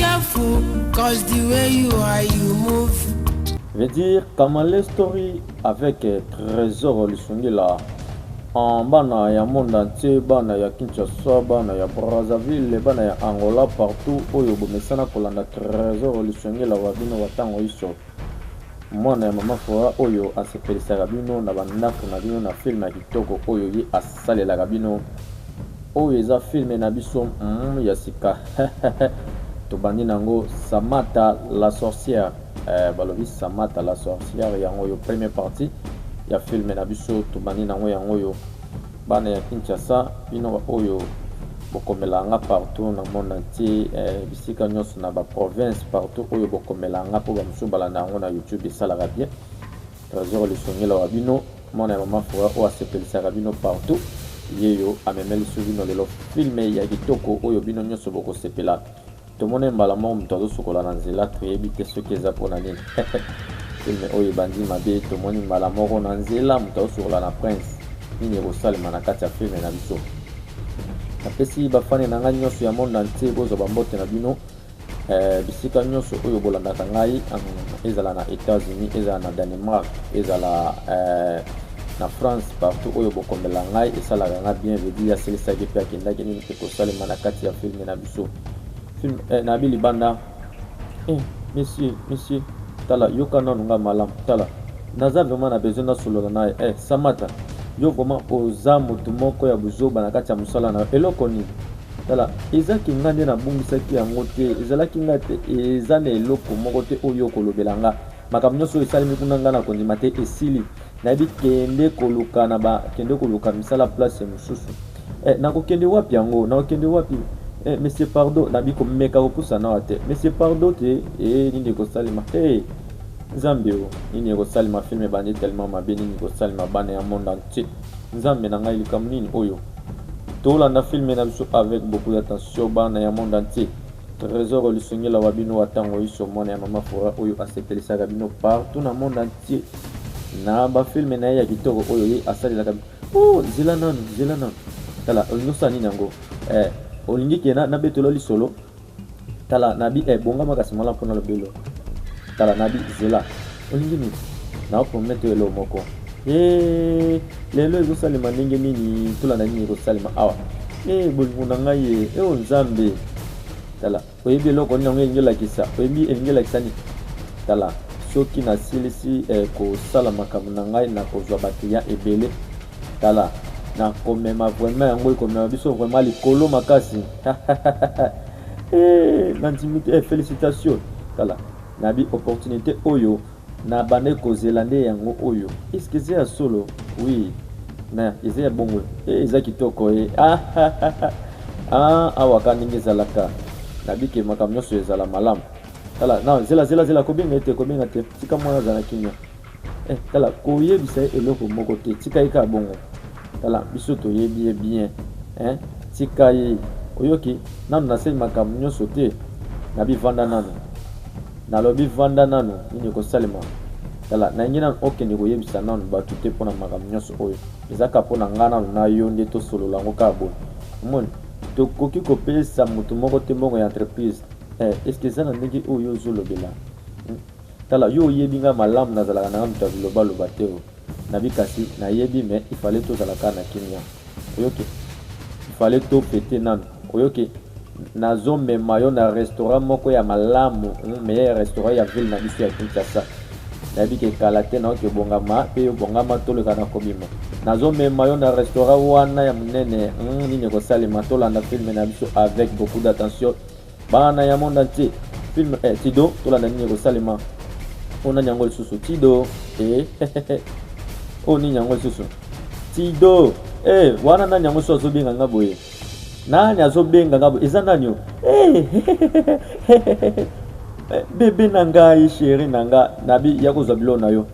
careful cause the way you are you move veut dire kamale story avec euh, trésor lisungila en bana ya monde entier bana ya kinshasa bana ya brazzaville bana ya angola partout oyo bomesana kolanda trésor lisungila wa bino wa ntango iso Mwana ya maman Flora oyo asepelisaka bino na ba ndaku na bino na film ya kitoko oyo ye asalelaka bino. Oyo eza film na biso humm ya sika tobandi na yango Samata la sorcière eh balobi Samata la sorcière yango oyo premier partie ya film na biso tobandi na yango yango oyo. Bana ya Kinshasa bino ba oyo bokomela nga partout na monde entier eh, bisika nyonso na ba province partout oyo bokomela nga po ba mususu balanda yango na YouTube esalaka bien. Tresor lisongela wa bino mwana ya mama Fora oyo asepelisaka bino partout yeyo amemeli su bino lelo filme ya kitoko oyo bino nyonso bokosepela. Tomone mbala moko moto azosukola na nzela, toyebi te soki eza mpo na nini. Film oyo ebandi mabe, tomoni mbala moko na nzela moto azosukola na prince. Nini ekosalema na kati ya film na biso? Napesi bafani na ngai nyonso ya monde entier bozwa bambote na bino eh, bisika nyonso oyo bolandaka ngai, ezala na Etats-Unis, ezala na Danemark, ezala eh, na france partout oyo bokombela ngai esalaka ngai bien vedi asilisaki mpe akendaki nini ekosalema na kati ya filme na So, film eh, na bi libanda eh, monsieur monsieur tala yoka nanu nga malamu tala naza vraiment na besoin nasolola naye eh, samata yo vraiment oza motu moko ya buzoba na kati ya mosala na yo eloko nini tala ezaki ngai nde nabungisaki yango te ezalaki ngai te eza na eloko moko te oyo okolobela nga Makambo nionso oyo esalemi kuna nga na kondima te esili nayebi kende koluka na ba kende koluka misala place mosusu eh, nakokende wapi yango nakokende wapi eh, monsieur pardo nabi komeka kopusa nawa te monsieur pardo te eh, nini ekosalema hey, eh, nzambe o nini ekosalema filme ebandi tellement mabe nini ekosalema bana ya monde entier nzambe na ngai likambo nini oyo tolanda filme na biso avec beaucoup d'attention bana ya monde entier Tresor lisungi la wa bino wa tango iso mwana ya mama fora oyo asepelisaka bino partout na monde entier na ba film na ye ya kitoko oyo ye asalelaka oh zela nanu zela nanu tala olingi osala nini yango eh, olingi ke nabetola lisolo tala nabi eh, bonga makasi mala mpona lobelo tala nabi zela olingi nini na promettre yo eloko moko e lelo ezosalema ndenge nini tula na nini ekosalema awa e bolingo na ngai ye e o nzambe tala oyebi eloko nini yango elingi olakisa oyebi elingi olakisa nini tala soki nasilisi eh, kosala makambo na ngai na kozwa bakliya ebele tala nakomema vraimen yango ekomema biso vraimen likolo makasi eh, nandimi te eh, felicitation tala Na bi opportunite oyo na bandaki ko zela nde yango oyo est ce que eza ya solo? Oui na eza ya bongo eh eza kitoko eh ahahahah ah awa ka ndenge ezalaka na bi ke makambo nionso ezala malamu tala na zela zela zela ko benga ye te ko benga te tika muana azala kimia Eh, tala koyebisa ye eloko moko te, tika ye kaka bongo. Tala biso toyebi ye bien eh, tika ye oyoki. Nanu nasali makambo nyonso te, nabi vanda nanu, nalobi vanda nanu, nini ekosalema? Tala nalingi nanu okende koyebisa nanu bato te mpo na makambo nyonso oyo, eza kaka mpo na ngai nanu na yo nde tosolola yango kaka boye. Omoni, tokoki kopesa moto moko te mbongo ya entreprise eh, eske eza na ndenge oyo ozolobela? Tala yo oyebi nga malamu nazalaka nanga mutu ya biloba loba te oh nabi kasi nayebi mais il fallait tozala kaka na kimia oyoki il fallait to fete nanu oyoki nazo mema yo na restaurant moko ya malamu hum, meilleur restaurant ya ville na biso ya Kinshasa nayebi ke kala te naoki obongama pe yo bongama toleka na kobima nazo mema yo na restaurant wana ya munene hum, nini ekosalema tolanda filme na biso avec beaucoup d'attention Bana ya monde entier. Film eh, Tido tolanda nini ekosalema. Ona oh, nyango lisusu Tido eh. oh nini yango lisusu tido eh, wana nani yango so azobenga nga boye nani azobenga nga boye eza nani yo eh, bebe na ngai sheri na nga nabi ya kozwa bilo na yo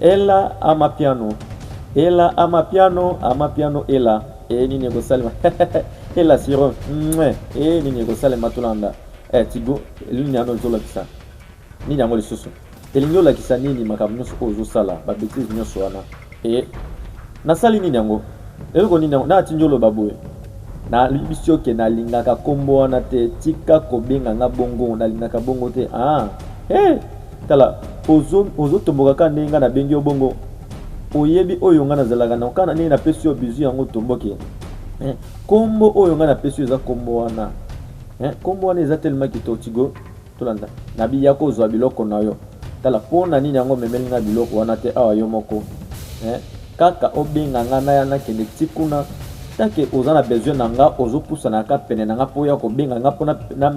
Ella amapiano Ella amapiano amapiano Ella eh nini ekosalema Ella siro mwe eh nini ekosalema tolanda eh tigo nini yango ezolakisa nini yango lisusu elingi olakisa nini makambo nyonso oyo ozosala babetise nyonso wana e nasali nini yango eloko nini yango natindi oloba boye nalibisi yo ke nalingaka nkombo wana te tika kobenga nga bongo nalingaka bongo te ah hey! Tala ozo ozo tomboka ka ndenge nga na bengi yo bongo oyebi oyo nga nazalaka na okana ndenge napesi yo bizu yango tomboke eh, kombo oyo nga napesi yo eza kombo wana eh, kombo wana eza telema kitoko tigo tolanda na biya kozwa biloko na yo tala mpo na nini yango omemeli nga biloko wana te awa yo moko eh, kaka obenga nga naya nakende ti kuna take oza na besoin na nga ozopusanaka pene na nga mpo ya kobenga nga mpo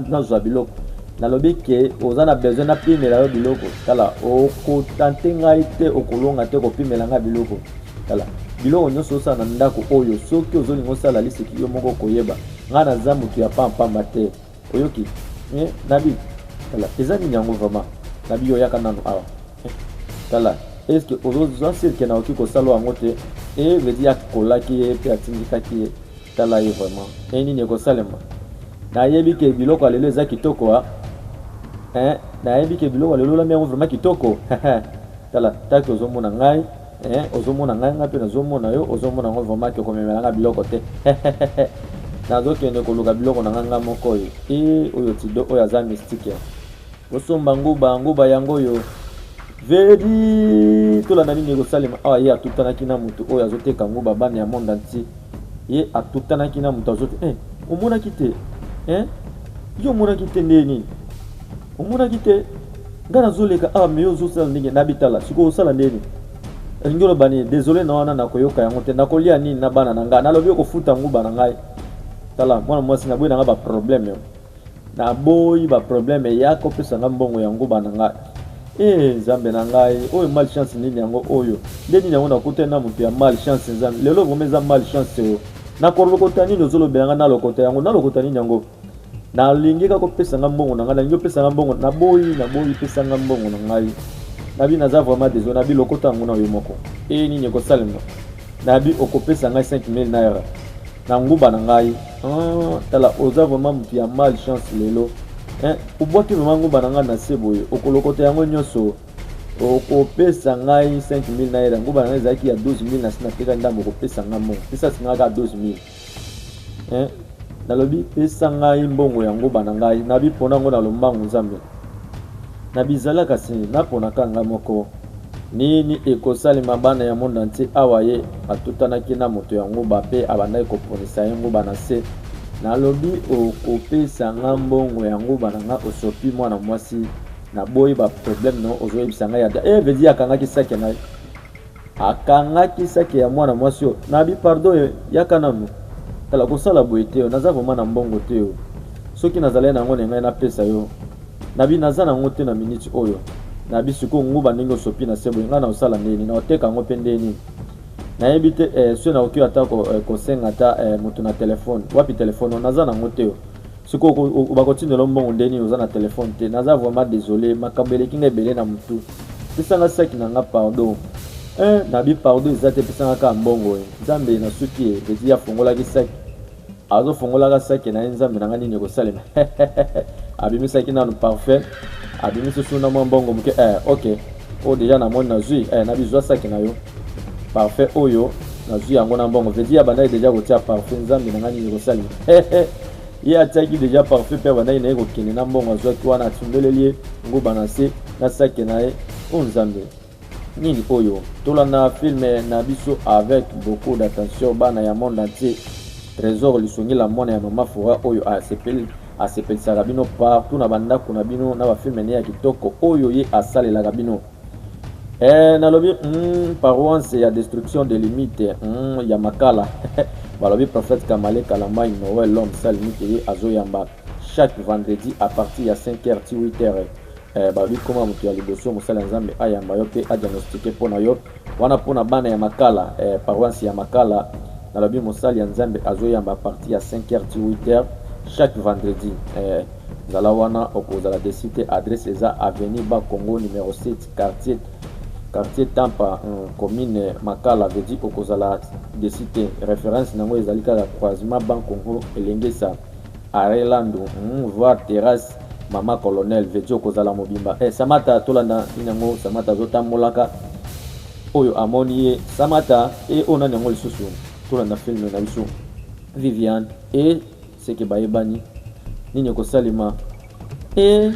nazwa biloko nalobi ke oza na besoin napimela yo biloko tala okotante ngai te okolonga te kopimela ngai biloko tala biloko nyonso osala na ndako oyo soki ozolinga osala liseki yo moko koyeba ngai naza motu ya pampamba te oyoki eh, nabi tala eza nini yango vraiment nabi oyaka nano awa eh, tala eske ozozwa sirke naoki kosala yango te e eh, vedi akolaki ye mpe atindikaki ye Tala ye vraiment eh nini ekosalema nayebi ke biloko ya lelo eza kitoko ah. eh, nayebi ke biloko ya lelo olambi yango vraiment kitoko tala taki ozomona ngai eh, ozomona ngai ngai mpe nazomona yo ozomona yango vraiment ke okomemela ngai biloko te nazokende koluka biloko na ngai ngai moko oyo eh, oyo tido oyo aza mystique Kosomba nguba nguba yango oyo vedi tolanda nini ekosalema awa ye atutanaki na moto oyo azoteka nguba bana ya monde entier ye atutanaki na moto azote eh, omonaki te eh? yo omonaki te ndenge nini omonaki te nga nazoleka awa ah, meyo ozosala ndenge nabitala sikoyo osala ndenge nini elingi oloba nini desole na wana nakoyoka yango te nakolia nini na bana na ngai nalobi okofuta nguba na ngai tala mwana mwasi naboyi na ngai baproblème Na boyi ba probleme yaka opesa nga mbongo ya nguba na nga eeh nzambe na ngai oyo mal chance nini yango oyo nde nini yango nakutani na mutu ya mal chance nzambe lelo vrema eza mal chance oyo na kolokota nini ozolobela nga na lokota yango na lokota nini yango nalingi kaka opesa nga mbongo na ngai nalingi opesa nga mbongo na boyi na boyi pesa nga mbongo na ngai nabi naza vraiment désolé nabi lokota yango na yo moko eye nini ekosalema nabi okopesa ngai 5000 naira na nguba na ngai ah, tala oza vraiment moto ya mal chance lelo eh, obwaki vraiment nguba na ngai na se boye okolokota yango nyonso okopesa ngai 5000 na yela nguba na ngai ezalaki ya 12000 na si nateka ndambo okopesa ngai mbongo pesa si ngai kaka 12000 eh, nalobi pesa ngai mbongo ya nguba na ngai nabipona yango na lombangu nzambe na bizalaka se naponaka ngai moko Nini ekosalema bana ya monde entier awa ye atutanaki na moto ya nguba pe abandaki koponisa ye nguba na se nalobi okopesa nga mbongo ya nguba na nga osopi mwana mwasi naboyi ba problème no ozoyebisa ngai ada eh vedi akangaki sake na ye akangaki sake ya mwana mwasi oyo nabi pardon eh, yaka nanu tala kosala boye te naza vraimen na mbongo te soki nazalai na yango na ngai napesa yo Nabi naza na ngo te na minute oyo. Nabi sikoyo nguba ndenge osopi na sebo nga na osala ndenge nini oteka yango mpe ndenge nini nayebi te eh, soki nakoki ata eh, kosenga ata eh, moto na telefone wapi telefone naza nango te sikoyo bakotindela mbongo ndenge nini oza na telefone te naza vraiment désolé makambo eleki nga ebele na motu pesanga saki na nga pardon eh, nabi pardon eza te pesanga kaka mbongo e nzambe nasuki e eti afongolaki saki Azo fongolaka sake na ye nzambe na nga nini ekosalema abimisaki nanu parfum abimisi su na mwa mbongo moke eh, ok oyo oh, deja na moni nazwi eh, na bizwa sake na yo parfum oyo nazwi yango na mbongo vedi ya bandaki deja kotia parfum nzambe na nga nini ekosalema ye atiaki deja parfum mpe abandaki na ye kokende na mbongo azwaki wana atundoleli ye nguba na se na sake na ye o oh, nzambe Nini oyo? Tolanda film na biso avec beaucoup d'attention bana ya monde entier. Tresor Lisungila mwana ya mama Fora oyo asepeli asepelisaka bino partout na bandako na bino na bafilme ne ya kitoko oyo ye asalelaka bino. Eh, nalobi mm, paroisse ya destruction de limite mm, ya makala balobi prophète Kamale Kalamai Noël l'homme sale limite ye azoyamba chaque vendredi à partir ya 5h ti 8h. Eh, balobi koma moto ya liboso mosali ya nzambe ayamba yo mpe adiagnostike mpo na yo wana mpo na bana ya makala eh, paroisse ya makala nalobi mosali ya nzambe azoyamba a partir ya 5 heures ti 8 heures chaque vendredi eh, zala wana okozala desi te adresse eza avenue ba congo numero 7 quartier quartier tampa um, commune makala vedi okozala desi te référence na yango ezali kaka croisement bancongo elengesa Arret landu hum voir terrasse maman colonel veut dire okozala mobimba eh samata tolanda nini yango samata azotambolaka oyo amoni ye samata e oyo nani yango lisusu tolanda filme na biso viviane e seke bayebani nini ekosalema Eh,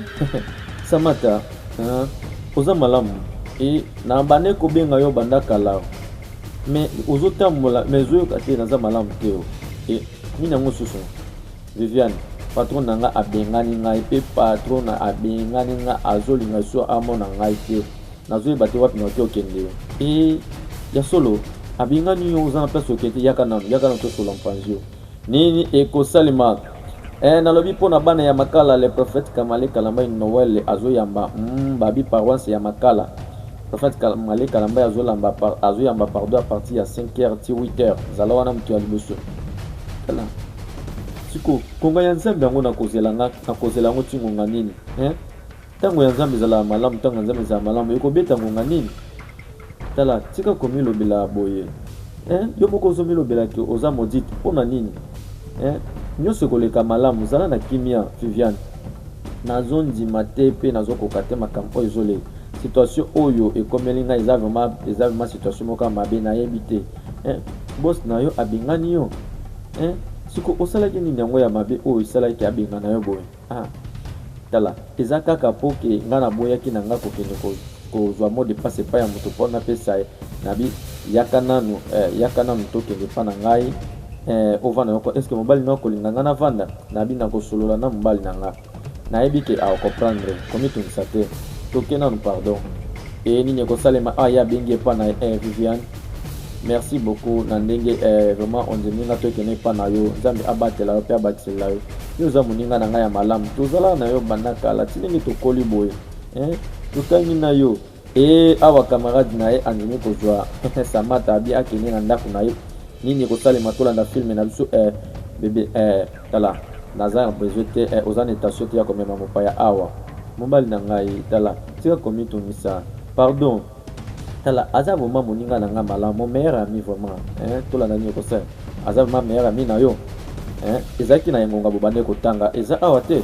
Samata, hein, oza malamu. Et na bande kobenga yo banda kala. Mais ozo tambola, mais ozo yoka te naza malamu te. oh. Et nini yango susu? Viviane, patron na nga abengani ngai pe patron na abengani nga azolinga so amona ngai te. Nazoyeba te wapi naoki okende yo. Et ya solo, abengani yo oza na place okende yaka nanu, yaka nanu tosola mpanzi yo. Nini ekosalema eh, nalobi mpo na bana ya Makala. Le prophète Kamale Kalamba une Noël azoyamba mm, babi paroisse ya Makala. Prophète Kamale Kalamba azolamba azoyamba pardon à partir ya 5h ti 8h. Zala wana moto ya liboso. Tala. Siko konga ya Nzambe yango nakozela nga nakozela yango ti ngonga nini? Eh? Ntango ya Nzambe ezalaka malamu, ntango ya Nzambe ezalaka malamu. Ekobeta ngonga nini? Tala, tika komilobela boye eh, yo moko ozomilobela ke oza modite. Mpo na nini eh? Nyonso ekoleka malamu, zala na kimia. Viviane, nazondima te mpe nazokoka te makambo oyo ezoleka. Situation oyo ekomeli ngai eza vraiment eza vraiment situation moko mabe, nayebi te eh, boss na yo abengani yo eh, siko osalaki nini yango ya mabe oyo esalaki abengana yo boye? Ah tala eza kaka po ke nga na boyaki na nga kokende kozua mot de passe epai ya moto po napesa ye na bi yaka nanu eh, yaka nanu tokende epai na ngai eh, ovanda yoko eske mobali na okolinga nga navanda na bi nakosolola na mobali na nga nayebi ke aokomprendre komitungisa te toke nanu pardon e nini ekosalema awa ye abengi epai na eh, viviane merci beaucoup na ndenge eh, vraiment ondimi nga tokende epai na yo nzambe abatela yo mpe abakiselela yo yo oza moninga na ngai ya malamu tozalaka na yo banda kala ti ndenge tokoli boye eh, totangi na yo e awa camarade na ye andimi kozwa samata abi akende na ndako na ye nini ekosalema tolanda filme na biso eh, bebe eh, tala naza ya besoin te eh, oza na etasio te ya komema mopaya awa mobali na ngai tala tika komitungisa pardon tala aza vraiment moninga na nga malamu mon meilleur ami vraiment hein tolanda nini okosala aza vraiment meilleur ami na yo hein ezalaki na engonga bobandaki kotanga eza awa te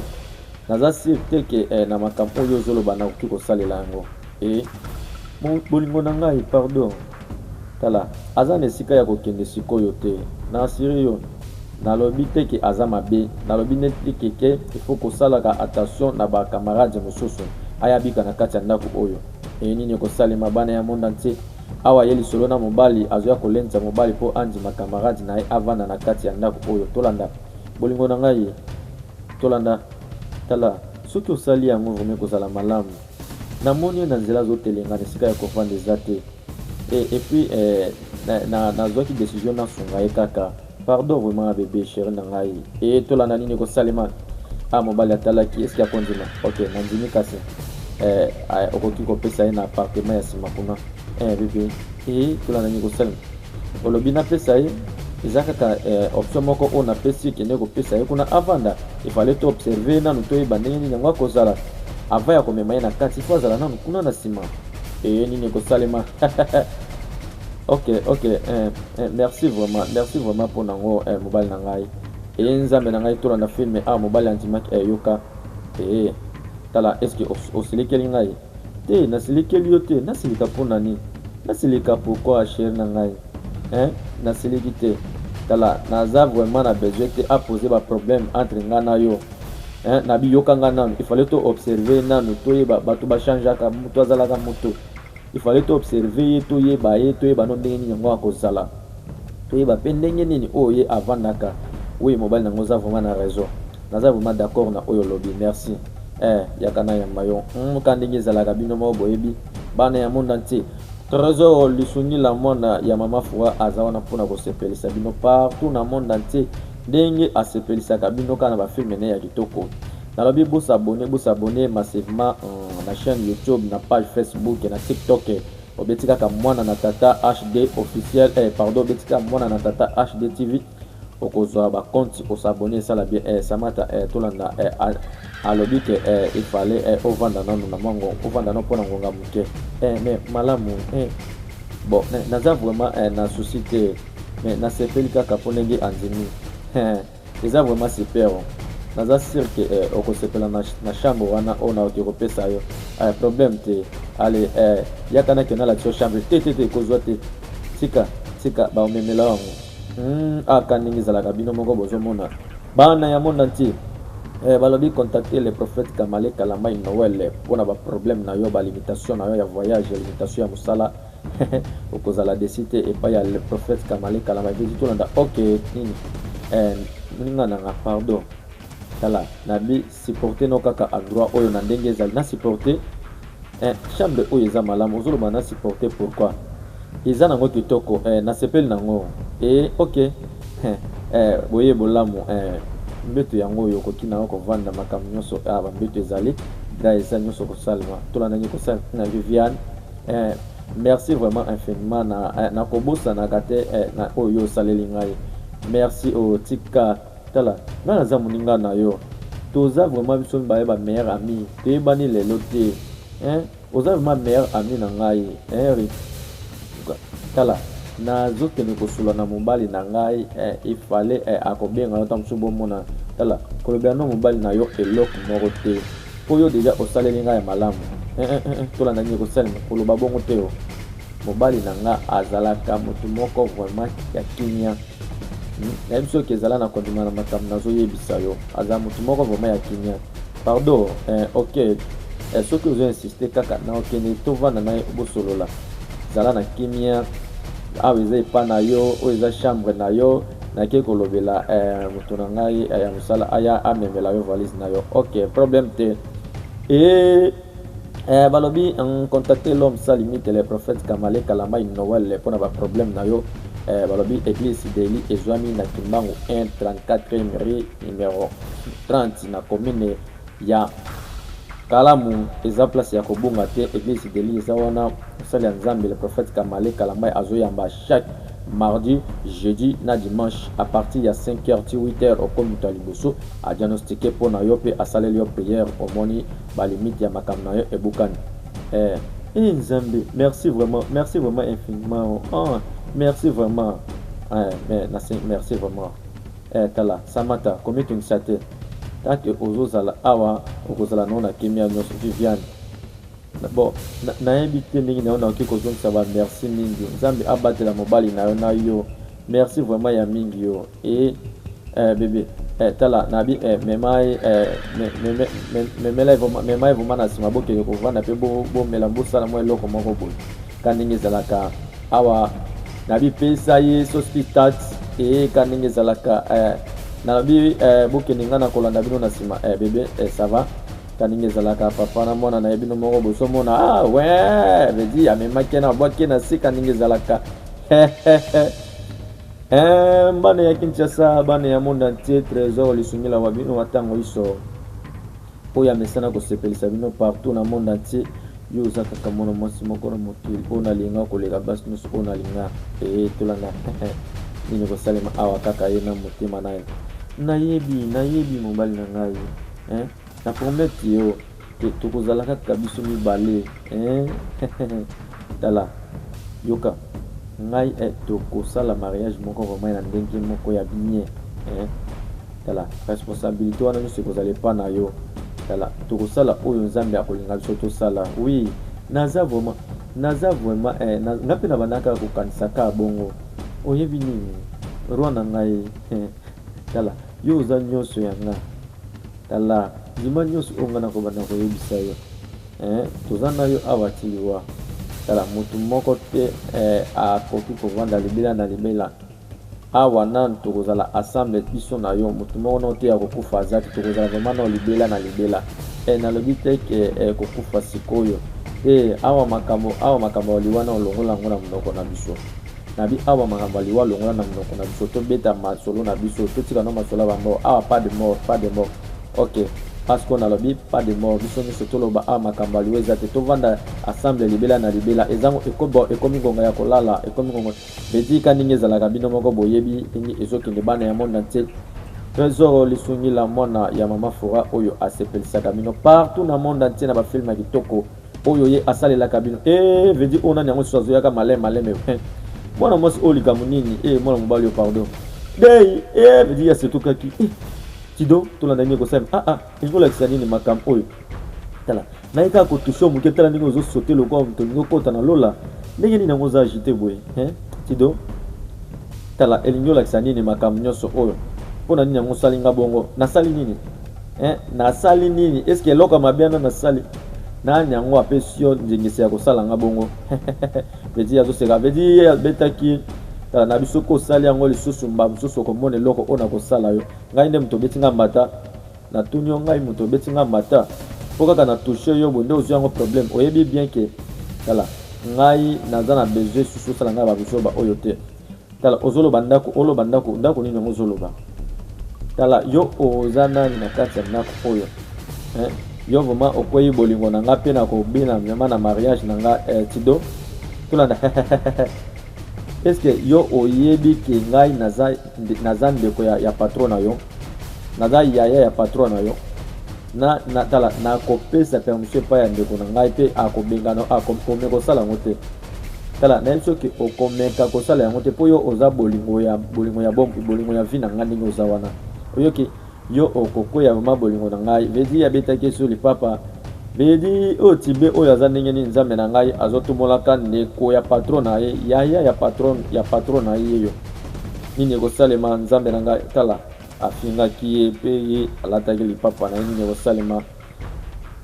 naza sur te ke eh, na makambo oyo ozoloba nakoki kosalela yango e bolingo na ngai pardon tala aza na esika ya kokende sikoyo te na asiri yo nalobi te ke aza mabe nalobi neti keke ifo kosalaka attention na bacamarade mosusu ayabika na kati ya ndako oyo Eye nini ekosalema bana ya monde entier awa ye lisolo na mobali azoya kolendisa mobali po andima camarade na ye avanda na kati ya ndaku oyo tolanda bolingo na ngai tolanda tala soki osali yango vraiment ekozala malamu na moni ye na nzela azotelengana esika ya kovanda eza te et, et puis eh, nazwaki na, na, na decision nasunga ye kaka Pardon vraiment ya bebe cheri na ngai ee tolanda nini ekosalema a mobali atalaki eske akondima ok nandimi kasi eh, eh, okoki kopesa ye na apartema ya nsima kuna eh, bebe ee tolanda nini ekosalema olobi napesa ye eza kaka eh, option moko oyo napesi ekende kopesa ye kuna avanda efale to observe nanu toyeba ndenge nini yango akozala ava ya komema ye na kati fo azala nanu kuna na nsima ee nini ekosalema ok ok eh, eh, merci vraiment merci vraiment mpo na yango eh, mobali na ngai eye eh, nzambe na ngai tolanda filme awa ah, mobali andimaki eyoka eh, ee eh, tala eske osilikeli ngai te nasilikeli yo te nasilika mpo na nini nasilika pourkoi chere na ngai eh, nasiliki te tala naza vraiment na besoin te apose baproblème entre ngai na yo eh, na biyoka ngai nanu ifale to observe nanu toyeba bato bachangeaka moto azalaka moto Il fallait to observer ye, to yeba ye, to yeba no ndenge nini yango akozala. To yeba pe ndenge nini oyo ye avandaka. Oui mobali na nga oza vraiment na raison. Naza vraiment d'accord na oyo olobi. Merci. Eh yaka na yamba yo. Hum ka ndenge ezalaka bino moko boyebi. Bana ya monde entier. Tresor lisungi la mwana ya mama Fura aza wana pona ko sepelisa bino partout na monde entier. Ndenge asepelisaka bino ka na ba film ne ya kitoko. Nalobi bo s'abonner bo s'abonner massivement na chaine YouTube na page Facebook na TikTok obeti kaka mwana na tata HD officiel eh pardon obeti kaka mwana na tata HD TV okozwa ba compte o s'abonner esala bien eh Samata eh tolanda eh alobi ke eh il fallait eh ovanda nanu na mwango ovanda no pona ngonga moke eh mais malamu eh bon naza vraiment eh na souci te mais nasepeli kaka po ndenge andimi eh Eza vraiment super oh. naza sur que eh, okosepela na, na chambre wana oyo naoki kopesa yo eh, problème te ale eh, yaka nake nalakisa yo chambre te te te ekozwa te tika tika baomemela yango mm, aka ah, ndenge ezalaka bino moko bozomona bana ya monde entier eh, balobi contacter le prophète kamale kalamai noel mpo na baproblème na yo balimitation na yo ya voyage limitation ya mosala okozala desi te epai ya le prophète kamale kalama epeji tolanda ok nini eh, moninga nanga pardon tala nabi supporte no kaka endroit oyo na ndenge ezali na supporte eh, chambre oyo eza malamu ozoloba na supporte pourquoi eza nango kitoko eh, nasepeli nango e ok eh, eh, boye bolamu eh, mbeto yango oyo okoki nango kovanda makambo nyonso ah, bambeto ezali dra eza nyonso kosalema tolanda nyekosala na viviane Eh, merci vraiment infiniment na eh, nakobosanaka te eh, na oyo osaleli ngai merci o oh, tika tala ngai naza moninga na yo toza vraiment biso mibale ba meilleur ami toyebani lelo te eh, oza vraiment meilleur ami na ngai eh, tala nazokende kosula na mobali na ngai eh, ifale eh, akobenga yo ntango mosusu bomona tala kolobela na mobali na yo eloko moko te Po yo dejà osaleli nga ya malamu eh eh eh, eh tolanda nini ekosalema, koloba bongo te oh. Mobali na nga azalaka motu moko vraiment ya kimia hmm? nayebi soki ezala na kondima na makambo nazoyebisa yo, azala motu moko vraiment ya kimia pardon eh, ok eh, soki ozo insiste kaka na okende tovanda na ye bosolola zala na kimia awa eza epa na yo oyo eza chambre na yo Nake kolobela eh, moto na ngai eh, ya mosala aya amemela yo valise na yo ok problème te e eh, balobi contacte l'homme sa limite le prophète kamale kalamai noel mpo na baproblème na yo eh, balobi église sideli ezwami na kimbangu 1 34 rue numero 30 na commune Ya kalamu eza place ya kobunga te eglise de lit eza wana mosali ya nzambe le prophète kamale kalambay azoyamba chaque mardi jeudi na dimanche à partir ya 5 heures ti 8 heures okomi moto ya liboso a diagnostique mpo na yo mpe asaleli yo prière omoni ba limite ya makambo na yo ebukani eh, eh nzambe merci vraiment merci vraiment infiniment oh, merci vraiment eh, mais, merci vraiment Eh tala samata komitungisa te tant que ozo zala awa okozala na yo na kimia nionso viviane bon nayebi te ndenge nayo nakoki kozongisa ba merci mingi nzambe abatela mobali na yo na yo merci vraiment ya mingi yo e eh, bebe eh, tala nabi eh, memai eh, me, me, me, me, memela memai vraiment na nsima bokende kovanda mpe bomela bo bosala mwa eloko moko boye Ka ndenge ezalaka awa nabi pesa ye sauce pistache ee ka ndenge ezalaka eh, nalobi eh, bokende ngai na kolanda bino na nsima eh, bebe eh, ça va ka ndenge ezalaka papa na mwana na ye bino moko bozomona ah, we vedi amemaki na bwaki na se ka ndenge ezalaka Eh, mbane ya kinshasa bane ya monde entier trésor lisungila wa bino wa ntango iso Oyo amesana kosepelisa bino partout na monde entier yo oza kaka mwana mwasi moko na mokili oyo nalinga koleka basi nyonso oyo nalinga ee tolanda nini kosalema awa kaka ye na motema naye nayebi nayebi mobali na ngai eh? na promete yo tokozalaka kaka biso mibale eh? Tala, yoka ngai eh toko sala mariage moko vraiment ya ndenge moko ya bien eh tala responsabilite wana nionso ekozala epa na yo tala toko sala oyo nzambe akolinga biso tosala oui naza vraiment naza vraiment eh na, nga pe na banaka kokanisa ka bongo oyebi nini roi na ngai eh, tala yo oza nionso ya nga tala ndima nionso oyo nga nakobanda koyebisa yo Eh toza nayo awa ti liwa tala mutu moko te eh akoki kovanda libela na libela awa nanu tokozala ensemble biso na yo mutu moko nao te akokufa aza te tokozala vraiment nao libela na libela eh nalobi te ke eh, kokufa sikoyo te awa makambo awa makambo ya liwa nao longola yango na monoko na biso nabi awa makambo ya liwa longola na monoko na biso tobeta masolo na biso totika nao masolo ya bamor awa pas de mort pas de mort Ok, parce qu'on a lobi pas de mort, biso nyoso toloba a ah, makambo aliwe eza te tovanda assemble libela na libela ezango ekobo ekomi ngonga ya kolala ekomi ngonga bedika ndenge ezalaka bino moko boyebi ndenge ezokende bana ya monde entier Trésor lisungi la mwana ya mama fora oyo asepelisaka bino partout na monde entier na bafilme ya kitoko oyo ye asalelaka bino e eh, vedi oyo nani yango susu azoyaka maleme maleme eh, mwana mwasi oyo likambo nini e mwana mobali oyo pardon dei e vedi asetukaki Tido tolanda nini ekosala ah ah elingi kolakisa nini makambo oyo tala naye kaka kotushe yo moke tala ndenge ozosote lokola moto olingi okota na lola ndenge nini yango oza agite boye tido tala elingi olakisa nini makambo nyonso oyo mpo na nini yango osali nga bongo nasali nini eh, nasali nini eske eloko ya mabe wana nasali nani yango apesi yo ndingisa ya kosala nga bongo vedi azoseka vedi abetaki tala na biso ko osali yango lisusu mbala mosusu okomona eloko oyo nakosala yo Ngai nde moto obeti nga mbata na tuni yo ngai moto obeti nga mbata po kaka na touche yo bonde ozwi yango problème oyebi bien ke tala ngai naza na besoin susu osala ngai babuzoba oyo te tala ozoloba ndako oloba ndako ndako nini yango ozoloba tala yo oza nani na kati ya ndako oyo eh? yo vraimen okwei bolingo na nga mpe na kobina vraimen na mariage na nga eh, tido tolanda eske yo oyebi ke ngai naza naza ndeko ya, ya patron na yo naza yaya ya patron na yo na, na tala nakopesa permission epai ya ndeko na ngai mpe akobengana akomeka kosala yango te tala nayebi soki okomeka kosala yango te mpo yo oza bolingo ya bolingo ya bompi bolingo ya vi na ngai ndenge oza wana oyoki Yo oko kweya vraiment bolingo na ngai vedi abetaki sur lipapa vedi oyo oh, tibe oyo aza ndenge nini nzambe na ngai azotumolaka ndeko ya patron na ye yaya ya patron ya patron na ye yo nini ekosalema nzambe na ngai tala afingaki ye mpe ye alataki lipapa na ye nini ekosalema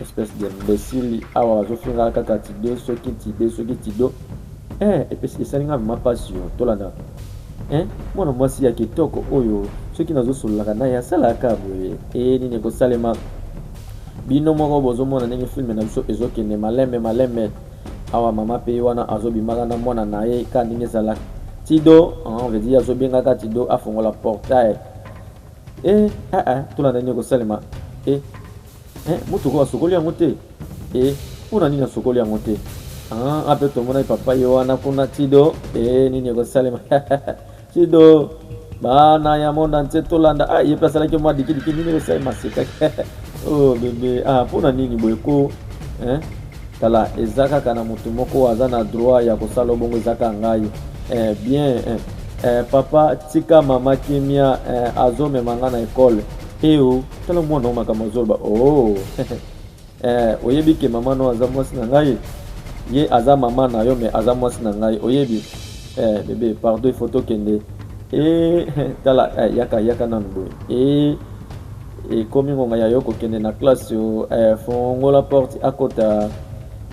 Espèce d'imbecile awa bazofinga kaka tide soki tide soki tido eh, epesi esali nga vraiment pasi yo tolanda eh, mwana mwasi ya kitoko oyo soki nazosololaka naye asalaka boye eye eh, nini ekosalema bino moko bozomona ndenge filme na biso ezokende malembe malembe awa mama pe wana azobimaka na mwana na ye ka ndenge ezalaka tido ah, on veut dire azobengaka tido afongola portail Eh, ah ah, tuna nani ekosalema. Eh, eh, motuka oyo asokoli yango te. Eh, mpo na nini asokoli yango te? Ah, ape ah, tomonaki papa ye wana kuna Tido. Eh, nini ekosalema? Tido, bana ya mona nse tolanda. Ah, ye mpe asalaki mwa dikidiki, nini ekosalema sekaki. oh bebe, ah, mpo na nini boye ko? Eh? Tala eza kaka na mutu moko oyo aza na droit ya kosala yo bongo eza kaka ngai eh, bien eh, eh, papa tika mama kimia eh, azomema ngai na ekole eo tala mwana o makambo azoloba oh. eh, oyebi ke mama no aza mwasi na ngai ye aza mama na yo me aza mwasi na ngai oyebi eh, bebe pardon ifo tokende e eh, tala eh, yaka yaka nanu boye e eh, Ekomi ngonga ya yo kokende na classe yo eh, fongola porte akota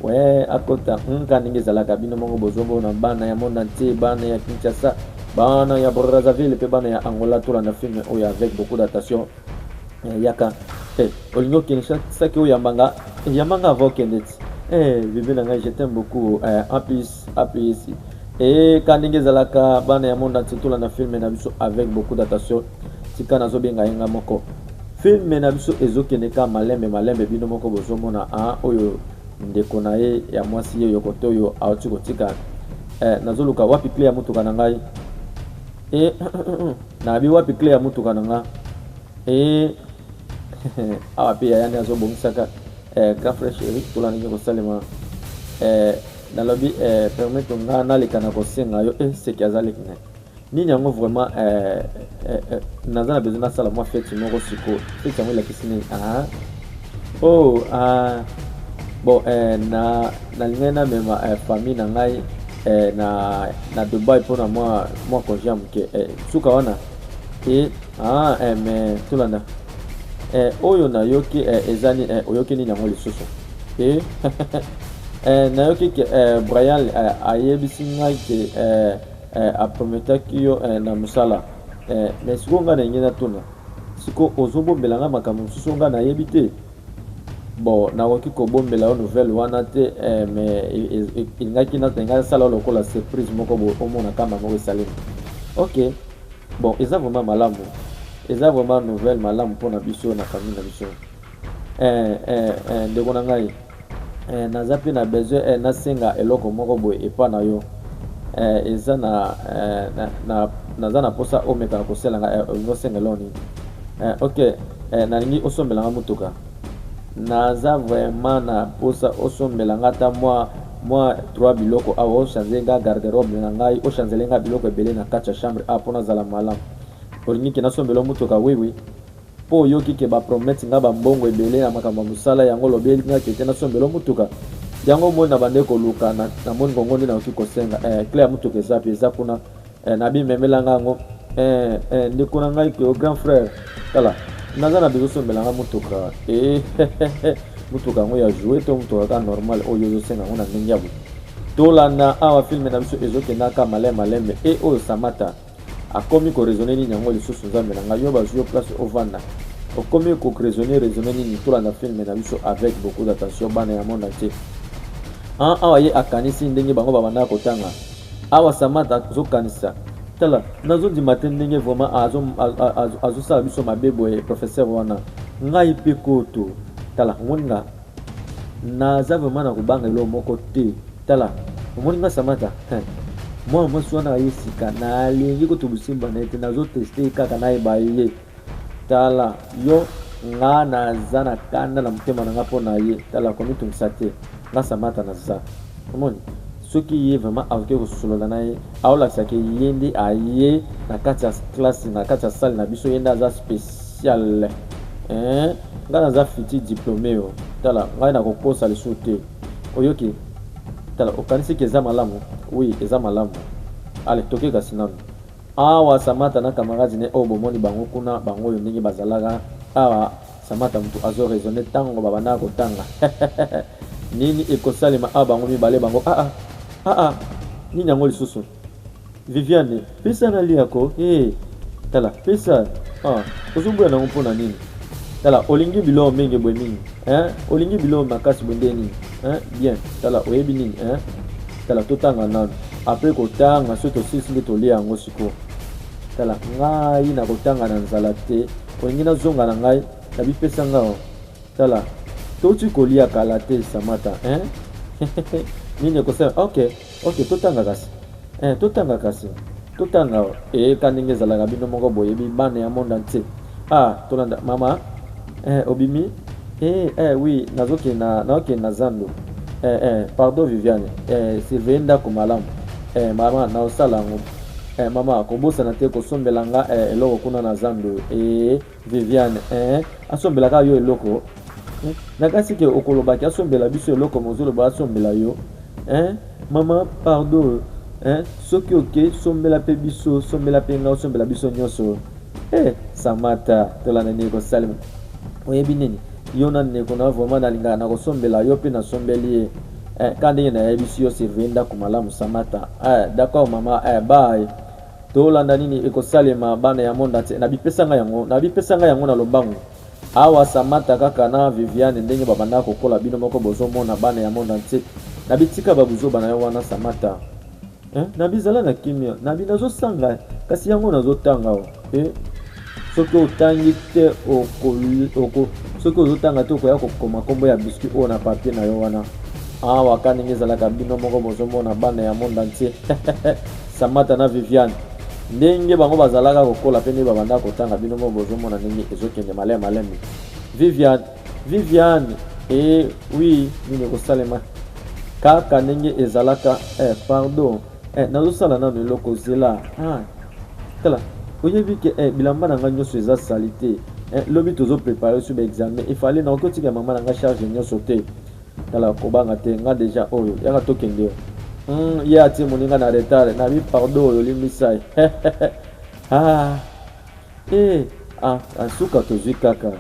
we akota nka ndenge ezalaka bino moko bozomona bana ya monde entier bana ya Kinshasa bana ya Brazzaville mpe bana ya Angola tolanda filme oyo avec beaucoup d'attention eh, yaka eh, olingi okende saki oyambanga yambanga ava okende ti eh, bebe na ngai je t'aime beaucoup eh, en plus apesi ee ka ndenge ezalaka bana ya monde entier tolanda filme na biso avec beaucoup d'attention tika nazobenga ye nga moko filme na biso ezokende ka malembe malembe bino moko bozomona a oyo ndeko na ye ya mwasi ye yoko to oyo auti kotika eh, nazoluka wapi cle ya motuka na ngai e eh, nayebi wapi cle ya motuka na nga e eh, awa mpe yaya nde azobongisaka eh, grand frère chéri tolanda nini kosalema eh, nalobi eh, permettre nga naleka na kosenga yo eh, seki aza leki na nini yango vraiment eh, eh, eh, naza na besoin nasala mwa feti moko sikoyo feti yango elakisi nini ah. oh, ah. bon eh, na nalingaki namema eh, famille na ngai eh, na, na dubai mpona mwa, mwa congé ya moke eh, suka wana e Ah, eh, mais tolanda eh, oyo nayoki eh, ezani eh, oyoki nini yango lisusu eh, eh, nayoki ke eh, Brian eh, ayebisi ngai ke eh, eh, aprometaki yo eh, na mosala eh, mais sikoyo ngai nalingi natuna sikoyo ozobombela ngai makambo mosusu ngai nayebi te bon nakoki kobombela yo nouvelle wana te eh, mais elingaki ngai asala lokola surprise moko omona kama moko esalemi ok Bon eza vraiment malamu, eza vraiment nouvelle malamu mpo na biso na famille na biso. Eh, eh, eh, ndeko na ngai eh, naza mpe na besoin eh, nasenga eloko moko boye epa na yo eh, eza na, eh, na, na naza na mposa omekaka koselanga eh, olingi osenga eloko nini eh, ok eh, nalingi osombelanga motuka Naza vraiment na posa osombela nga ata mwa mwa 3 biloko awa ochange nga garde robe na ngai ochanzele nga biloko ebele na kati ya chambre a mpo nazala malamu olingi ke nasombela motuka wiwi mpo oyoki ke bapromete nga bambongo ebele na makambo ya mosala yango olobeli nga kete nasombela motuka yango omoni na bande koluka na moni kongo nde nayoki kosenga eh, cle ya motuka ezapi eza kuna Eh, nabi memela nga ngo eh, eh, ndeko na ngai ke grand frère tala naza na bezo sombela nga motoka eh, motoka yango ya joue to motoka kaka normal oyo ozosenga yango na ndenge ya boye tolanda awa filme na biso ezokendaka malai malembe e eh, oyo samata akomi koraisonne nini yango lisusu nzambe na ngai yo bazwi yo place ovanda okomi koraisonne raisonne nini tolanda filme na biso avec beaucoup d'attention bana ya monde entier awa ye akanisi ndenge bango babandaka kotanga Awa Samantha azo kanisa tala nazo ndima te ndenge vraiment azo azo sala biso mabe boye professeur wana ngai pe koto tala omoni nga naza vraiment na kobanga eloko moko te tala omoni nga Samantha mwana mwasi wana aye sika nalingi kotulusimba na ye te nazo teste ye kaka nayeba ye Tala yo nga na za na kanda na motema na nga mpo na ye tala komitungisa te nga samata na za omoni soki ye vraiment aoke kosolola na ye aolakisa ke ye nde aye na kati ya classe na kati ya salle na biso ye nde aza speciale eh, nga naza fiti diplome yo tala ngai nakokosa lisusu te oyoki tala okanisi ke eza malamu oui eza malamu ale toke kasi nanu Awa Samata na camarade ne oyo bomoni bango kuna bango oyo ndenge bazalaka awa Samata mutu azo raisonner tango babandaka kotanga nini ekosalema awa bango mibale bango aa ah, aa ah, ah, nini yango lisusu Viviane pesa na lia ko hey, tala pesa ah, ozoboya nango mpo na nini tala olingi biloko mingi boye mingi eh? olingi biloko makasi boye nde nini hein bien tala oyebi nini hein tala totanga nanu apres kotanga soki tosilisi nde tolia yango sikoyo tala ngai nakotanga na nzala te olingi nazonga na ngai na bipesa ngai oh. tala touti kolia kala te samata hein nini ekosala ok Ok totanga kasi eh, totanga kasi totanga ee ka ndenge ezalaka bino moko boyebi bana ya monde entier ah tolanda mama eh, obimi eh, eh, oui nazokende na, nazokende na zando eh, eh, pardon viviane eh, surveille ndako malamu eh, mama naosala yango eh, mama kobosana te kosombela nga eh, eloko kuna na zando eh, Viviane eeh asombela kaka yo eloko eh? na kasi ke okolobaki asombela biso eloko mozoloba asombela yo eh? mama pardon eh? soki oke sombela mpe biso sombela mpe nga osombela biso nyonso eh, samata tolanda nini kosalema oyebi nini yo na ndeko na vraimen nalingaka na kosombela yo mpe nasombeli ye eh, ka ndenge nayebisi yo surveille ndako malamu samata eh, d'accord mama eh, baye Tolanda nini ekosalema bana ya monde entier na bipesa nga yango na bipesa nga yango na lobangu awa samata kaka na viviane ndenge babanda kokola bino moko bozomona bana ya monde entier na bitika babuzoba na yo wana samata eh, na bizala na kimia na binazosanga kasi yango nazotanga o eh. soki otangi te oko, oko, soki ozotanga te okoya kokoma nkombo ya biscuit oyo na papier na yo wana awa ah, ka ndenge ezalaka bino moko bozomona bana ya monde entier samata na viviane ndenge bango bazalaka kokola mpe nde babanda kotanga bino moko bozomona ndenge ezokende malai malemi viviane viviane e eh, wi nini ekosalema kaka ndenge ezalaka eh, pardon Eh, nazosala nano eloko zela ah, tala oyebi ke eh, bilamba na ngai nyonso eza salite eh, lobi tozoprepare so baexamen efale na okotika mama na ngai charge nyonso te tala kobanga te nga deja oyo yaka tokende yo mm, ye atie moninga na retard nabi pardon oyo olimbisai ah. Hee ah ah suka tozui kaka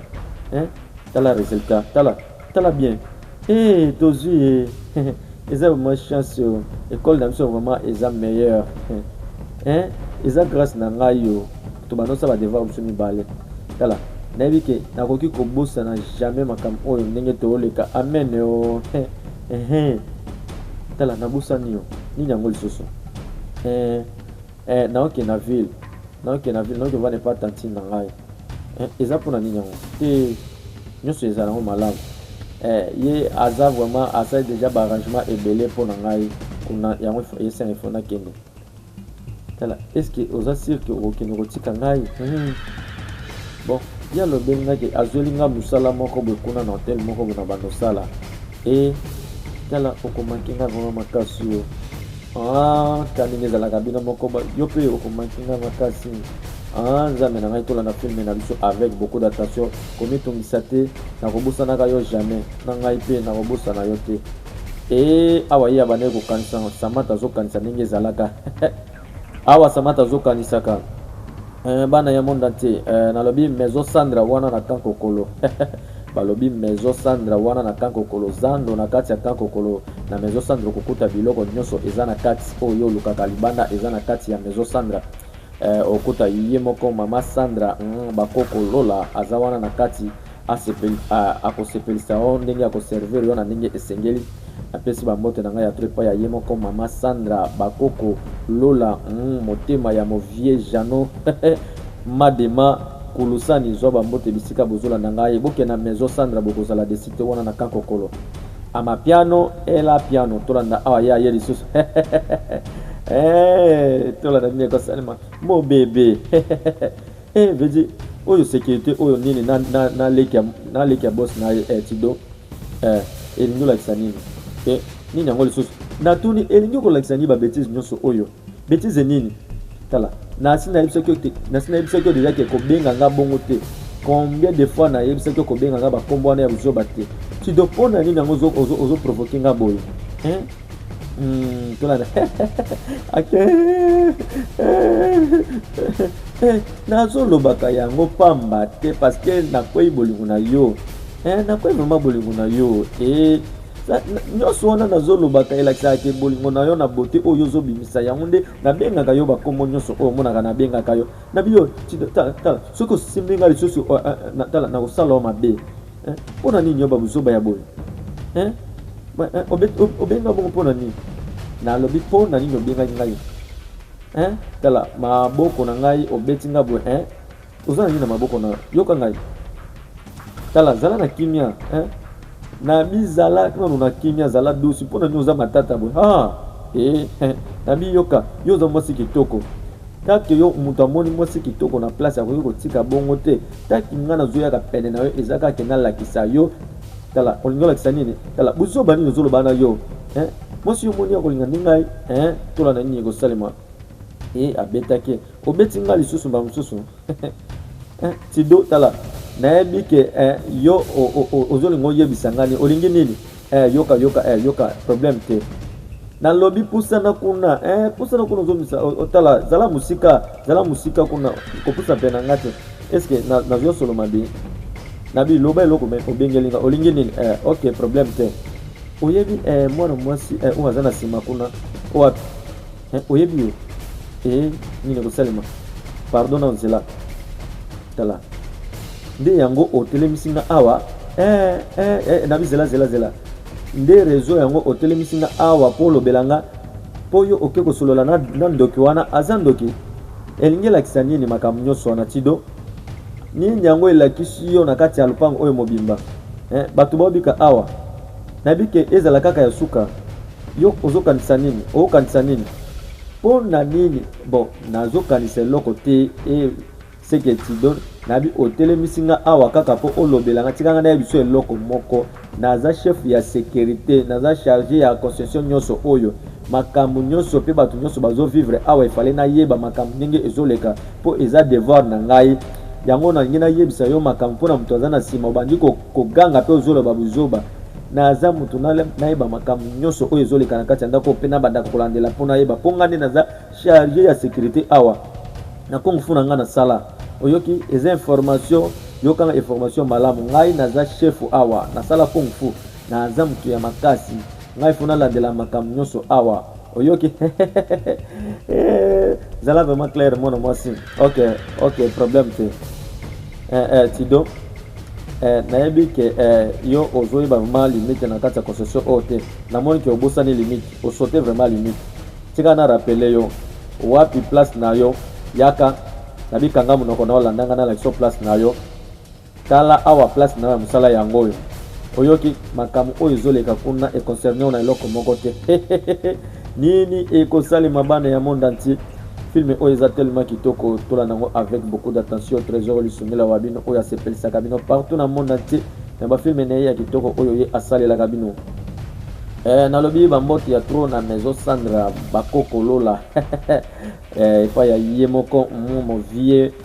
hein tala resultat tala tala bien hee tozui hee eza vraiment chance yo ecole na biso vraiment eza meilleur hein eza grâce na ngai yo to bando sala devoir biso mibale tala nayebi ke nakoki kobosana jamais makambo oyo ndenge tooleka amen yo hee tala nabosani yo nini yango lisusu hee Eh naoke na ville naoke na ville naoke vana epa tantine na ngai eh, eza mpo na nini yango te nyonso ezala yango malamu eh, ye aza vraiment asali deja baarrangement ebele mpo na ngai kuna yango esenga ifo nakende tala estce oza sire ke okokende kotika ngai hmm. bon ye alobeli ngai ke azweli ngai mosala moko boye kuna na hotel moko boye na bandosala Eh, tala okomaki nga vraiment makasi yo ah, kani nde ezalaka bino moko yo mpe okomaki nga makasi ah, nzambe na ngai tolanda filme na biso avec beaucoup d'attention komitungisa te nakobosanaka yo jamais na ngai mpe nakobosana yo te e awa ye abandaki kokanisa samata azokanisa ndenge ezalaka Awa Samata azo kanisaka eh, bana ya monde entier eh, nalobi maison Sandra wana na camp kokolo balobi maison Sandra wana na camp kokolo zando na kati ya camp kokolo na maison Sandra okokuta biloko nyonso eza na kati oyo olukaka libanda eza na kati ya maison Sandra eh, okuta ye moko mama Sandra mm, bakoko Lola aza wana na kati Akosepelisa yo ndenge akoservir yo na ndenge esengeli. Napesi bambote na ngai ya trop epai ya ye moko mama Sandra, bakoko Lola, mm, motema ya mo vieux Jeannot Madema, Kulusani, zwa bambote bisika bozolanda ngai. Bokende na maison Sandra, bokozala desi te wana na Kankokolo. Amapiano ela piano, tolanda awa ye aye lisusu eh, tolanda nini ekosalema mobebe Eh, Vedi, oyo securite oyo nini na, na, na leki ya, na leki ya boss na ye eh, Tido eh, elingi olakisa nini eh, nini yango lisusu natuni elingi kolakisa nini babetise nyonso oyo betise nini tala nasi nayebisaki yo te nasi nayebisaki yo deja ke kobenga nga bongo te combien de fois nayebisaki yo kobenga nga bakombo wana ya buzoba te Tido mpo na nini yango ozoprovoke nga boye eh? Hmm, tolanda ake nazolobaka yango pamba te parceke nakwei bolingo na yo eh, nakwei vraimen bolingo na yo eh, nyonso wana nazolobaka elakisaka ke bolingo na yo na bote oyo ozobimisa yango nde nabengaka yo bakombo nyonso oyo omonaka nabengaka yo na biyo soki osimbi ngai lisusu eh, eh, tala nakosala yo mabe Eh, pona nini yo babuzoba ya boye eh? eh obenga bongo pona nini nalobi mpo na nini obengaki ngai eh? tala maboko na ngai obeti nga boye eh? oza na nini na maboko na yoka ngai tala zala na kimia eh? nabi zala nano na kimia zala dusi mpo na nini oza matata boye ah, eh, eh. nabi yoka yo oza mwasi kitoko kake yo moto amoni mwasi kitoko na place akoki kotika bongo te Taki nga nazo yaka pene na yo eza kaka ke na lakisa yo tala olingi olakisa nini tala buzoba nini ozo loba na yo hein mwasi yo moni akolinga nde ngai hein tola na nini ekosalema e abetaki obeti ngai lisusu mbala mosusu tido tala nayebi ke eh, yo ozolinga oyebisa ngai olingi nini eh yoka yoka eh yoka problème te nalobi pusana kuna eh pusana kuna ozomisa otala zala musika zala musika kuna kopusa mpe na nga te eske nazwa solo mabe nabi loba eloko me obengeli nga olingi nini eh ok problème te oyebi eh mwana mwasi eh oyo aza na nsima kuna oyo eh, oyebi yo eh, nini ekosalema pardon na nzela tala nde yango otelemisi nga awa eh, eh, eh, nabi zela zela zela nde rezo yango otelemisi nga awa mpo olobela nga mpo yo oke kosolola na, na ndoki wana aza ndoki elingi elakisa nini makambo nyonso wana tido nini yango elakisi yo na kati ya lopango oyo mobimba eh, bato baobika awa Nayebi ke ezala kaka ya suka. Yo ozo kanisa nini? Oko kanisa nini? Pona nini? Bon nazo kanisa eloko te et ce que tu donnes nayebi otelemisi nga awa kaka po olobela nga tika nga nayeba biso eloko moko naza chef ya securite naza charge ya construction nionso oyo makambo nionso pe bato nionso bazo vivre awa efale nayeba makambo ndenge ezoleka po eza devoir na ngai yango nalingi nayebisa yo makambo pona moto aza na sima obandi ko koganga mpe ozoloba buzoba naza moto nayeba makambo nyonso oyo ezoleka na kati ya ndako mpe nabandaka kolandela mpo nayeba mpo ngai nde naza charge ya sécurité awa na kung fu na ngai nasala oyoki eza information yokanga information malamu ngai naza chefu awa nasala kung fu naza moto ya makasi ngai fo nalandela makambo nyonso awa oyoki eh, zala vraiment claire mwana mwasi ok ok problème te eh, eh, tido eh, nayebi ke eh, yo ozoyeba vraiment limite na kati ya concession oyo te namoni ke obosani limite osote vraiment limite tika na rappele yo wapi place na yo yaka na bikanga monoko na olandanga na lakisa place na yo Tala awa place nayo ya musala yango oyo. Oyoki makambo oyo ezoleka kuna e concerne yo na eloko moko te. Nini ekosalema bana ya monde entier? Film oyo eza tellement kitoko, tola nango avec beaucoup d'attention. Tresor Lisungila wa bino oyo asepelisaka bino partout na monde entier na ba film na ye ya kitoko oyo ye asalelaka bino. Eh, nalobi bambote ya tro na maison sandra bakokolola eh, epai ya ye moko mumo vie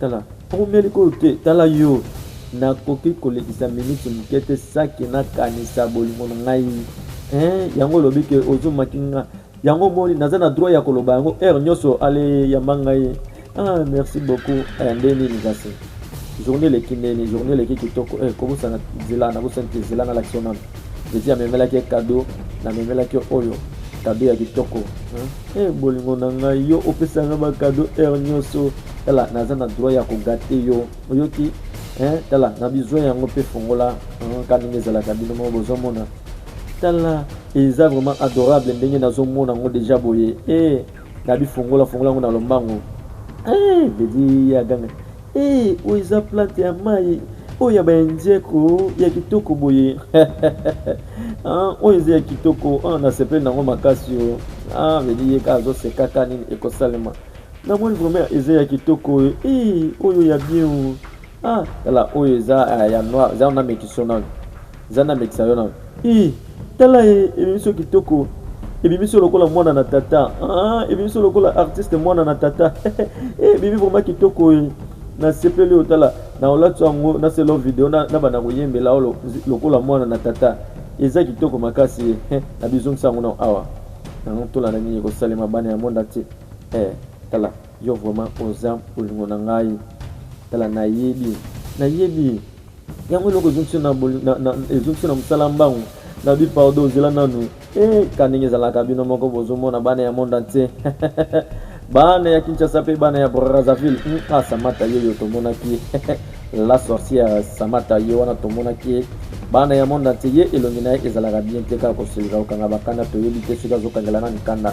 Tala, oumeli ko te, tala yo, nakoki kolekisa miniti moke te saki nakanisa bolingo na ngai eh, yango olobi ke ozomaki nga yango omoni naza na droit ya koloba yango heure nyonso ale yamba ngai ah merci beaucoup eh, nde nini kasi journée eleki ndeni journée eleki kitoko eh, kobosana nzela nabosani te nzela nalakisa nano Petit amemelaki ye cadeau, namemelaki yo oyo cadeau ya kitoko. Eh hey, bolingo na ngai yo opesa nga ba cadeau heure nyonso. Tala naza na droit ya kogate yo. Oyoki? Eh tala na bizwa yango mpe fongola nka ndenge ezalaka bino moko bozomona. Tala eza vraiment adorable ndenge nazomona yango deja boye. Eh na bifongola fongola yango na lombango. Eh bedi ya ganga. Hee oyo eza plante ya mayi oyo ya ba indien ko ya kitoko boye ah oyo eza ya kitoko ah na sepeli nango makasi yo oh. ah vedi ye ka azo seka ka nini ekosalema na moni vraiment eza ya kitoko oyo hee oyo ya bien o oh. ah tala oyo eza ah, ya noir eza na mekisonani Nzambe amekisa yo na ii tala ye ebimiso kitoko ebimiso lokola mwana na tata ah, ebimiso lokola artiste mwana na tata eh, ebimi vraimen kitoko ye nasepeli oyo tala na olati yango naselo video na, na banda koyembela yo lokola mwana na tata eza kitoko makasi ye eh, na bizongisa yango na awa yango tolanda nini ekosalema bana ya monda te eh, tala yo vraimen oza bolingo na ngai tala nayebi nayebi yango eloko ezongisi na ezongisi na mosala mbangu na bi pardon ozela nanu eh, ka ndenge ezalaka bino moko bozomona bana ya monde entier bana ya kinshasa mpe bana ya brazzaville hmm, ah, samata ye yo tomonaki la sorcière samata ye wana tomonaki bana ya monde entier ye elongi na ye ezalaka bien te kaka kosilika kokanga bakanda toyebi te soki azokangela na mikanda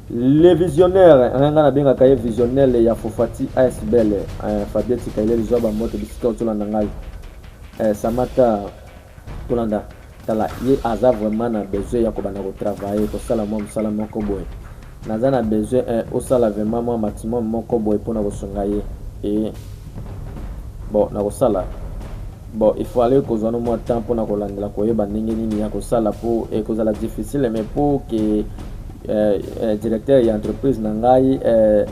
Le visionnaire hein, nga nabengaka ye visionnel ya fofati asbl hein, fabien tikaile lizwa bamoto bisika ozolanda ngai eh, samata tolanda tala ye aza vraiment na besoin ya kobanda kotravaille kosala mwa mosala moko boye naza na besoin eh, osala vraiment mwa maximum moko boye mpo na kosunga ye eh, bon nakosala bon il faut aller kozwa no mwa temps mpo na kolandela koyeba ndenge nini ya kosala mpo ekozala difficile mais mpo ke eh, eh, directeur ya entreprise na ngai eh,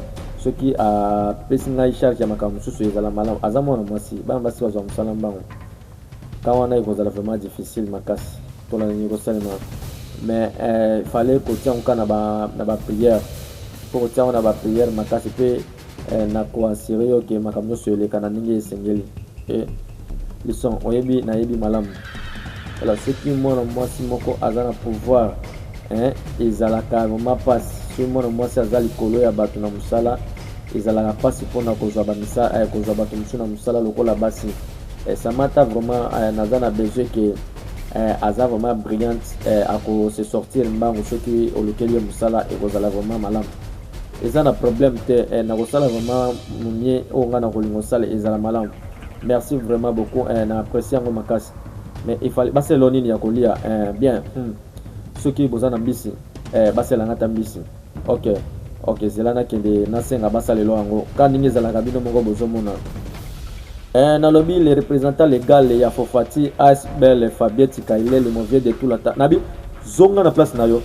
soki apesi ah, ngai charge ya makambo mosusu ezala malamu aza mwana mwasi bana basi bazwa mosala mbango ka wana ekozala vraiment difficile makasi mpona nini ekosalema mais eh, fallait kotia yango kaka na bapriere mpo kotia yango na bapriere makasi mpe Eh, na ko assurer yo que makambo nyonso eleka na ndenge esengeli. Eh, Lison, oyebi nayebi malamu. Alors soki mwana mwasi moko aza na pouvoir eh, ezalaka vraiment mpasi soki mwana mwasi aza likolo ya bato na mosala ezalaka mpasi mpona kozwa bamisala eh, kozwa bato mosusu na mosala lokola basi eh, samata vraiment eh, naza na besoin ke eh, aza vraiment brillante eh, akose sortir mbangu soki olukeli ye mosala ekozala vraiment malamu eza na problème te eh, nakosala vraiment mumie oyo oh, ngai nakolinga osala ezala malamu merci vraiment beaucoup eh, na apprécie yango makasi mais ifali baselo nini ya kolia eh, bien hmm. soki boza na mbisi eh, basela ngai ata mbisi ok ok zela nakende nasenga basalelo yango ka ndenge ezalaka bino moko bozomona eh, nalobi le représentant légal ya fofati asbel fabieti kailele movie de tulata nabi zonga na place na yo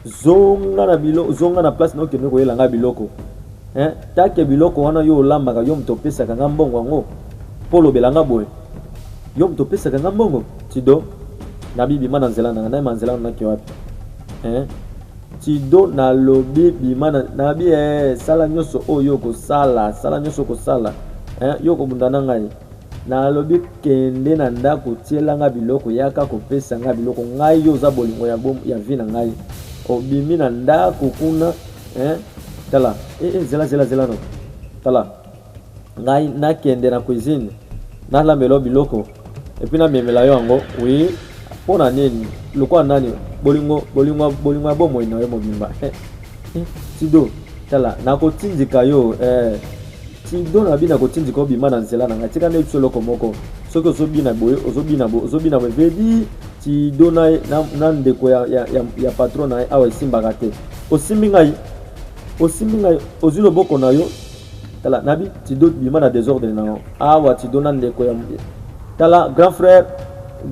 zonga na bilo zonga na place nao kende koyela ngai biloko eh? take biloko wana yo olambaka yo moto opesaka ngai mbongo yango mpo olobela ngai boye yo moto opesaka ngai mbongo tido nabi bima na nzela nanga nayema nzela nanaki wapi eh? tido nalobi bima nabi eh, sala nyonso oyo okosala sala nyonso okosala eh? yo okobunda na ngai Na lobi kende na ndaku tiela nga biloko yaka ko pesa nga biloko ngai yo oza bolingo ya bo ya vie na ngai obimi na ndaku kuna eh tala eh, eh zela zela zela no tala ngai na kende na cuisine na lambela biloko et puis na memela yo yango oui pona nini lokola nani bolingo bolingo bolingo ya bomoi na yo mobimba eh. Tido, tala, nakotindika yo eh. Tido na bina kotindika obima na nzela na ngai tika nde biso eloko moko soki ozobina boye ozobina boye ozobina boye vedi tido na, na, na ndeko ya, ya, ya, ya patron na ye awa esimbaka te osimbi ngai osimbi ngai ozwi loboko na yo tala nabi tido bima na desordre na yo awa tido na ndeko ya tala grand frère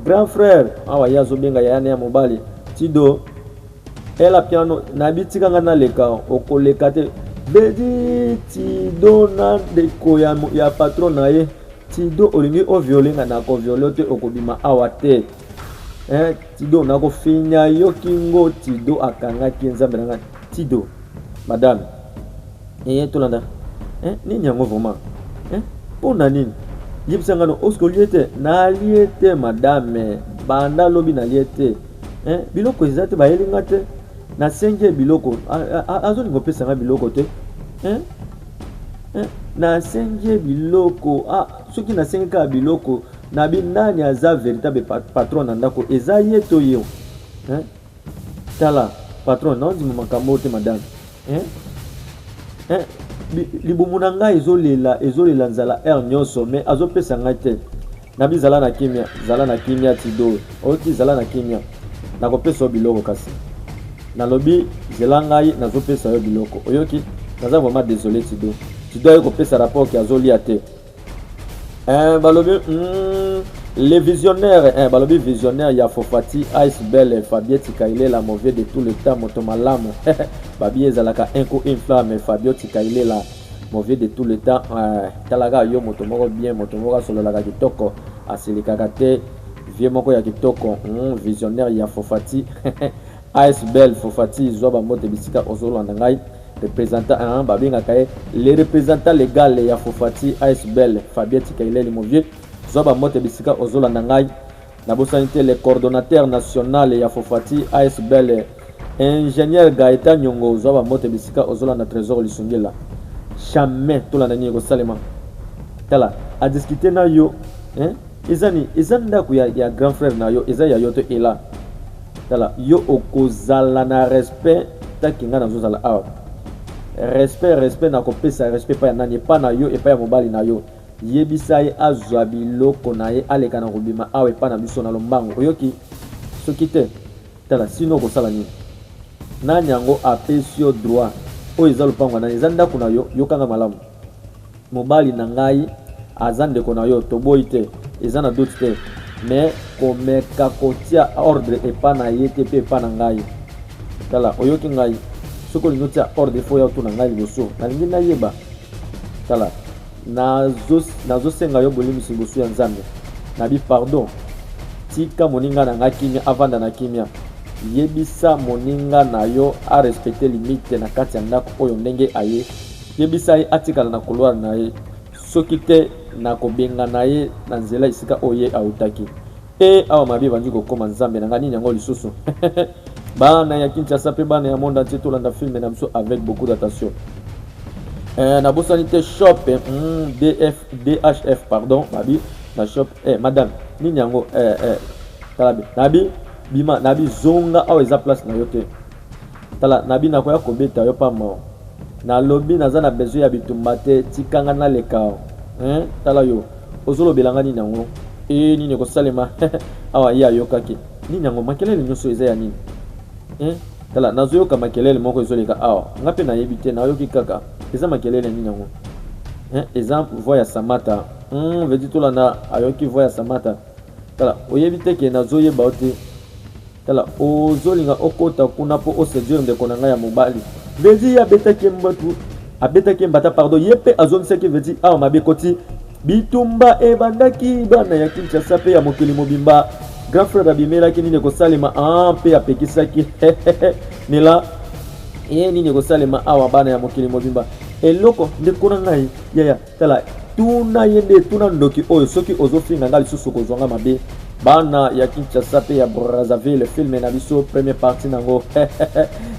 grand frère awa ye azobenga yaya na ya mobali tido Ella piano nabi tika nga naleka okoleka te bedi tido na ndeko ya, ya patron na ye tido olingi oviole nga nakoviole te okobima awa te eh, tido nakofinya yo kingo tido akangaki nzambe na ngai tido madame eye eh, tolanda eh, nini yango vraiment eh, mpo na nini yebisa ngano oske olie te nalie te madame banda lobi nalie te eh, biloko eza te bayeli nga te nasengi ye biloko azolinga opesa nga biloko te eh? Eh? nasengi ye biloko ah, soki nasengi kaka biloko na bi nani aza véritable patron na ndako eza ye to ye eh? tala patron naondima makambo te madame eh? Eh? libumu na ngai ezolela ezolela nzala heure nyonso mais azopesa ngai te Nabi zala na kimia, zala na kimia Tido. Oki zala na kimia. Nakopesa yo biloko kasi. Nalobi zela ngai nazopesa yo biloko. Oyoki? Naza vraiment désolé Tido. Tido aye kopesa rapport ki azolia te. Eh, balobi mm, les visionnaires eh, balobi visionnaire ya Fofati, Ice Belle, Fabien Tikailela, mauvais de tout le temps, moto malamu. Babi ezalaka un coup une flamme, Fabio Tikailela. Mauvais de tout le temps euh, talaka yo moto moko bien moto moko asololaka kitoko asilikaka te vie moko ya kitoko mm, visionnaire ya fofati asbel fofati zwa bambote bisika ozolanda ngai représentant hein, babengaka ye le représentant legal ya fofati asbel fabien tikaileli movie zwa bambote bisika ozolanda ngai Nabosani te le coordonnateur national ya Fofati asbl ingenieur Gaetan Nyongo ozwa ba mbote bisika ozolanda Tresor Lisungila jamais tolanda nini ekosalema tala a discuter na yo hein? eza ni eza ndako ya, ya grand frère na yo eza ya yo to ela tala yo okozala na respect taki ngai nazozala awa respect respect nakopesa respect epai ya nani epai na yo epai ya mobali na yo Yebisa ye azwa biloko na ye aleka na kobima awa epai na biso na lombango, oyoki? Soki te, tala, sinon okosala nini? Nani yango apesi yo droit? Oyo eza lopango ya nani? Eza ndako na yo? Yoka ngai malamu. Mobali na ngai aza ndeko na yo, toboyi te, eza na doute te, mais komeka kotia ordre epai na ye te mpe epai na ngai. Tala, oyoki ngai? Soki olingi otia ordre, il faut oya otuna ngai liboso, nalingi nayeba. Tala. Nazo senga yo bolimbisi liboso ya Nzambe. Nabi pardon. Tika moninga na nga kimia avanda na kimia. Yebisa moninga na yo a respecter limite na kati ya ndako oyo ndenge aye. Yebisa ye atikala na couloir na ye. Soki te nakobengana ye na nzela esika oyo ye autaki. Hee awa mabe ebandi kokoma nzambe na nga nini yango lisusu bana ya Kinshasa pe bana ya monde entier tolanda film na biso avec beaucoup d'attention eh, nabosani te shop eh, mm, DF, DHF pardon mabi na shop eh, madame nini yango eh, eh, talabe nabi bima nabi zonga awa eza place na yo te Tala nabi nakoya kobeta yo pamao na lobi naza na besoin ya bitumba te tika nga nalekao eeh tala yo ozo lobela nga nini yango eeh nini eko salema awa ye ayokaki nini yango makelele nioso eza ya nini eeh tala nazo yoka makelele moko ezo leka awa nga pe nayebi te nayoki kaka eza makelele nini yango eeh eza voix ya samata hum vedi tolanda ayoki voix ya samata Tala, oyebi te ke nazoyeba yo te? Tala, ozolinga okota kuna po oseduire ndeko na ngai ya mobali? Vedi ye abetaki ye mbatu, abetaki ye mbata pardon, ye pe azongisaki Vedi awa mabe ekoti. Bitumba ebandaki, bana ya Kinshasa pe ya mokili mobimba. Grand frère abimelaki nini ekosalema ah, pe apekisaki nela ye nini ekosalema awa, bana ya mokili mobimba. Eloko ndeko na ngai yaya Tala tuna ye nde tuna ndoki oyo soki ozofinga nga lisusu okozwa nga mabe bana ya kinshasa mpe ya brazzaville filme na biso première partie na yango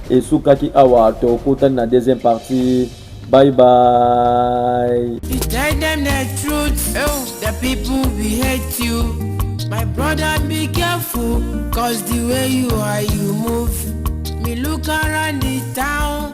esukaki awa tokutani na deuxième partie bye bye you tell them the truth oh, the people we hate you my brother be careful cause the way you are you move me look around the town